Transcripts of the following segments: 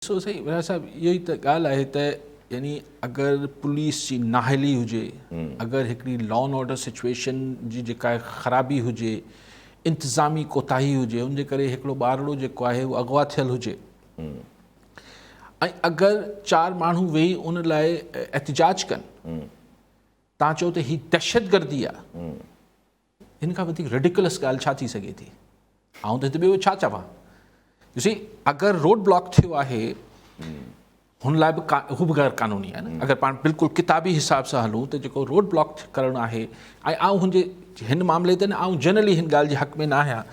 سو سائين ويرا صاحب اهو ئي ته ڳالهه آهي ته يعني اگر پوليس جي نااهلي هجي اگر هڪڙي لا اينڊ آرڊر سچويشن جي جيڪا خرابي هجي انتظامي ڪوتاهي هجي ان جي ڪري هڪڙو ٻارڙو جيڪو آهي اهو اغوا ٿيل هجي ۽ اگر چار ماڻهو ويهي ان لاء احتجاج ڪن تان چئو ته هي دهشتگردي آهي هن کان وڌيڪ ريڊيڪلس ڳالهه ڇا ٿي سگهي ٿي. آئون ته هت ٻيو ڇا چوان. يو سي اگر روڊ بلاڪ ٿيو آهي هن لاء به هو به غير قانوني آهي نه اگر پاڻ بلڪل ڪتابي حساب سان هلون ته جيڪو روڊ بلاڪ ڪرڻ آهي ۽ آئون هن جي هن معاملي تي نه آئون جنرلي هن ڳالهه جي حق ۾ نه آهيان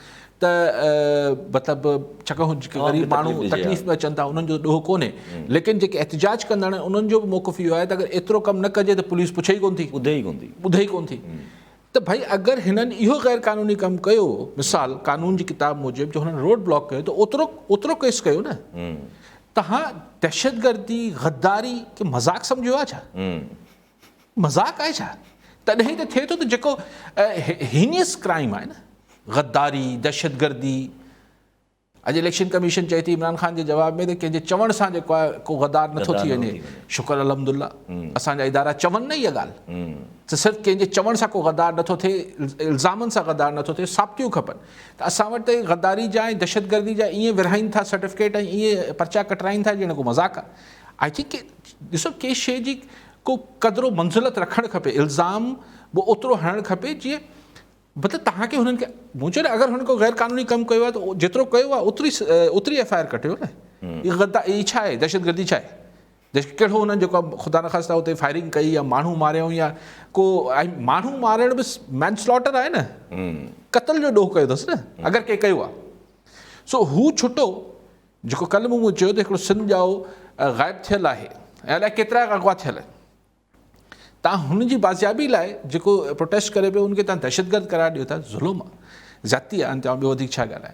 ته مطلب چکو جيڪي غريب ماڻهو تڪليف ۾ اچن ٿا انهن جو ڏوهه ڪونهي ليڪن جيڪي احتجاج ڪندڙ انهن جو به موقف اهو آهي ته اگر ايترو ڪم نه ڪجي ته پوليس پڇي ئي ڪون ٿي ٻڌي ئي ڪون ٿي ٻڌي ئي ڪون ٿي ته ڀئي اگر هنن اهو غير قانوني ڪم ڪيو مثال قانون جي ڪتاب موجب جو هنن روڊ بلاڪ ڪيو ته اوترو اوترو ڪيس ڪيو نه تهان دهشتگردي غداري کي مذاق سمجهيو آهي ڇا مذاق آهي ڇا تڏهن ته ٿئي ٿو ته جيڪو هينيس ڪرائم آهي نه غداري دهشتگردي اڄ اليڪشن ڪميشن چئي ٿي عمران خان جي جواب ۾ ته ڪنهن جي چوڻ سان جيڪو آهي ڪو غدار نٿو ٿي وڃي شڪر الحمد الله اسان جا ادارا چون نه اها ڳالهه ته صرف ڪنهن جي چوڻ سان ڪو غدار نٿو ٿئي الزامن سان غدار نٿو ٿئي ثابتيون کپن ته اسان وٽ ته غداري جا ۽ دهشت گردي جا ائين ورهائين ٿا سرٽيفڪيٽ ۽ ائين پرچا ڪٽرائين ٿا ڄڻ ڪو مذاق آهي آء ٿنڪ ڏسو ڪي شي جي ڪو قدر و منزلت رکڻ کپي الزام به اوترو هڻڻ کپي جيئن مطلب توهان کي هنن کي مون چيو نه اگر هن ڪو غير قانوني ڪم ڪيو آهي ته جيترو ڪيو آهي اوتري اوتري ايف آء آر ڪٽيو نه هي غدا هي ڇا آهي دهشتگردي ڇا آهي ڪهڙو هنن جيڪو خدا نخواسته اتي فائرنگ ڪئي يا ماڻهو ماريائون يا ڪو ماڻهو مارڻ به مينسلاٽر آهي نه قتل جو ڏوهه ڪيو اٿس نه اگر ڪي ڪيو آهي سو هو ڇٽو جيڪو ڪل مون چيو ته هڪڙو سنڌ ڄائو غائب ٿيل آهي الاء ڪيترا اغوا ٿيل تان هن جي بازيابي لاء جيڪو پروٽيسٽ ڪري پيو ان کي تان دهشتگرد قرار ڏيو ٿا ظلم آ زيادتي آ ان تي آئون ٻيو وڌيڪ ڇا ڳالهايان.